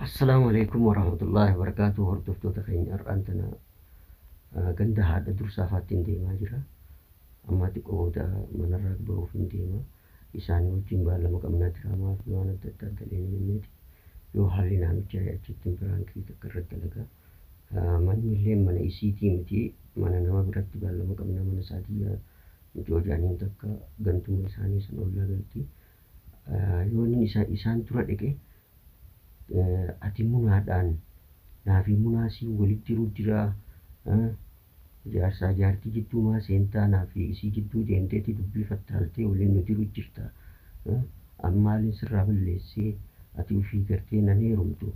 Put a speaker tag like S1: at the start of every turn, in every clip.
S1: Assalaamu
S2: Aleeykum Warahmatullaahi Wabarakaatuh Hordoftoota keenya har'aan tana ah, ganda haadha dursaa faattiin deemaa jira. Ammaa xiqqoo booda manarraa bahuuf hin deema. Isaanii wajjin baalama qabnaa jira maaf waan adda addaa dalee ni jenneeti. Yoo haalli naa mijaa'e achittiin biraankii takka irratti dalagaa. Ah, Manni illee mana isiitii miti mana nama biratti baalama qabnaa mana saadiyyaa mucoo jaaniin takka gantuma isaanii san ollaa galti. Ah, Yoon inni isa- isaan dura dhaqe ati munaadhaan naafii munaa sii walit jiruu jiraa jaarsaa jaartii jidduu maa seentaa naafii isii jidduu deemteeti dubbii fattaaltee waliin nu jiru jirta an maalin sirraa balleessee ati ufii gartee nan heerumtu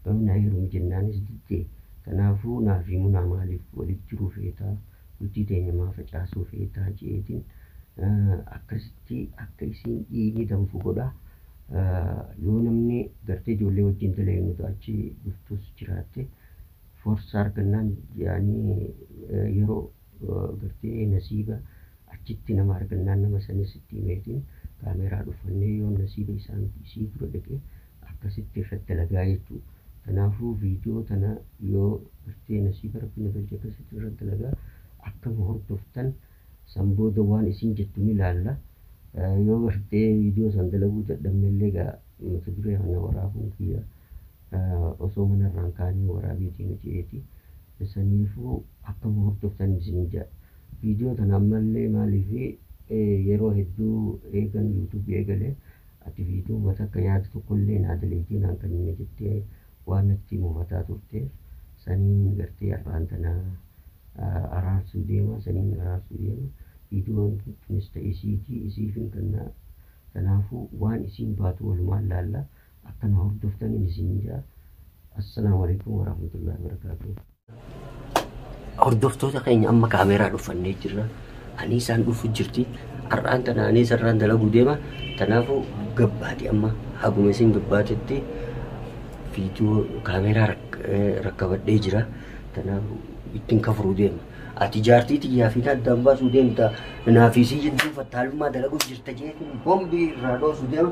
S2: na heerumi jennaanis didde kanaafuu naafii munaa maaliif walit jiruu feetaa Bultii teenya maa facaasuu feetaa jeetin akkasitti akka isiin dhiigni danfu godha. Yoo namni gartee ijoollee wajjin dalaynu ta achi dhuftus jiraatte forsa argannaan yaani yeroo gartee nasiiba achitti nama argannaan nama sanis itti himeetiin kaameeraa dhofannee yoon nasiiba isaan isii dura dhaqe akkasitti irrat dalagaa jechuu tanaafuu video tana yoo gartee nasiiba rabbi na galche akkasitti irrat dalagaa akkama hordoftan san booda waan isin jettu ni laalla yoo gartee video san dalaguu dadhabnellee gaa mata duree kana waraabuun kiyya osoo mana irraan kaanii waraabiitii nu jeeti saniifuu akkama hordoftan isin jedha video tana ammallee maaliif yeroo hedduu eegan youtube eegale Ati viidiyoo mata akka yaada tokkollee naa daleeytee naan kennine jettee waan natti mufataa turteef saniin gartee arraan tana araarsuu deema saniin araarsuu deema viidiyoon tunis ta isiiti isiifin kenna tanaafuu waan isiin baatu walumaan laalla akka na hordoftaniin isiniin ja'a Assalaamu Aleykum Warahmatullahi Wabarakaatuh. Hordoftoota keenya amma kaameeraa dhuffannee jirra. Ani isaan dhufu jirti. Har'aan tana ani sararaan dalaguu deema. Kanaafuu gabbaati amma haguma isin gabbaatetti viidiyoo kaameeraa rak- eh, rakkabadhee jira. Kanaafuu ittiin kafuruu deema. Ati jaartii tiyyaa fi addaan baasuu deemta. Naafisii jidduu fattaalummaa dalaguuf jirta jeetiin bombii irraa dhoosuu deema.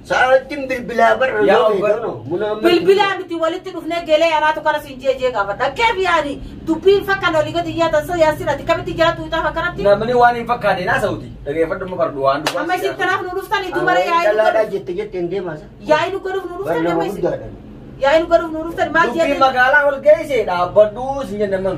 S1: Saawattiin
S2: bilbilaa barra Yaa yoo obbo- ta'e tono. Munaa amma- Bilbilaa miti
S1: walitti dhufnee gelee anaatu kana siin jee jee gaafa dhaggee biyyaani dubbiin fakkan olii gadi yaatan soo yaasin ati kamitti jiraatu itaaf akkanatti Namni waan hin fakkaate
S3: naa sa'uti. Dhageeffadhu ma fardu waan dubbaa. amma isin kanaaf nu dhuftan itti
S1: maree Awwaalii yaa'ii dhalaadhaa
S2: nu jette
S1: jette hin deemaa sa. yaa'ii nu godhuuf nu dhuftan Barnama amma isin guddaadha. yaa'ii nu godhuuf nu dhuftan maal Dubbii
S3: jeetan magaalaa ol geesseedha. Abbadhuu sin jennaman.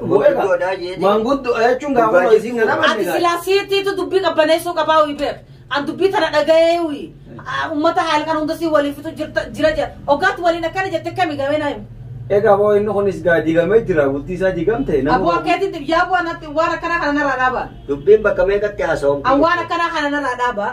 S2: Manguddoodhaa jeetii.
S3: Manguddoo jechuun gaafa Dhugaa hojii jechuun. nama Ati silaa
S1: siitiitu dubbii qabbaneessuu qabaa uyi beek. An dubbii tana dhaga'ee uyi. Ah, Uummata haala kan hunda si waliin fitu jirta jira jira. Oggaatti waliin akkana jette kami gamee naa himu. Egaa boo inni kunis
S3: gaa digamee jira bultii isaa digamte. nama- Aboo akkeetiin yaa
S1: bu'aa natti waan akkanaa kana narraa dhaabaa. Dubbiin bakka meeqatti
S2: haasa'uun. An waan akkanaa kana narraa
S1: dhaabaa.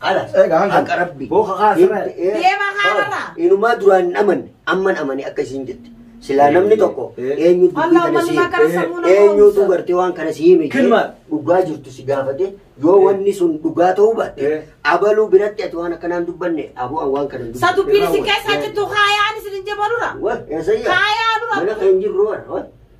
S2: Ala. Egaa hanga. Haqa rabbi. Booka kaa sirra.
S3: Deema kaanarraa.
S1: Inumaa duraan hin
S2: amanne amman amane akka isiin jette. Silaa namni tokko eenyutu dubbii kana si eenyutu gartee waan kana si hime dhugaa jirtu si gaafate yoo wanni sun dhugaa ta'uu baatte abaluu biratti ati waan akkanaan dubbanne aboo waan kana dubbanne. Sa dubbiin si keessaa
S1: jirtu kaayaan isin hin jabaludha. Kaayaan
S2: dura. Mana kan
S1: jirru waan.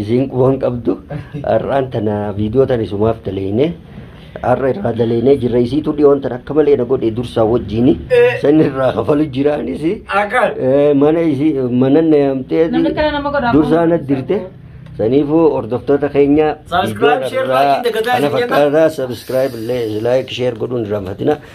S2: isiin quban qabdu har'aan tana viidiyoo tan isumaaf daleeyne har'a irraa daleeynee jirra isiitu dhiyoon tan akka malee na godhe dursaa wajjiini Eh. san irraa kafalu jiraanis Akal. Eh, mana isii mana na yaamtee Namni kana nama godha. dursaa na dirte saniifuu hordoftoota keenya Subscribe, share, like, dagataa kana isin jenna. fakkaataa subscribe illee like share godhuun irraanfatina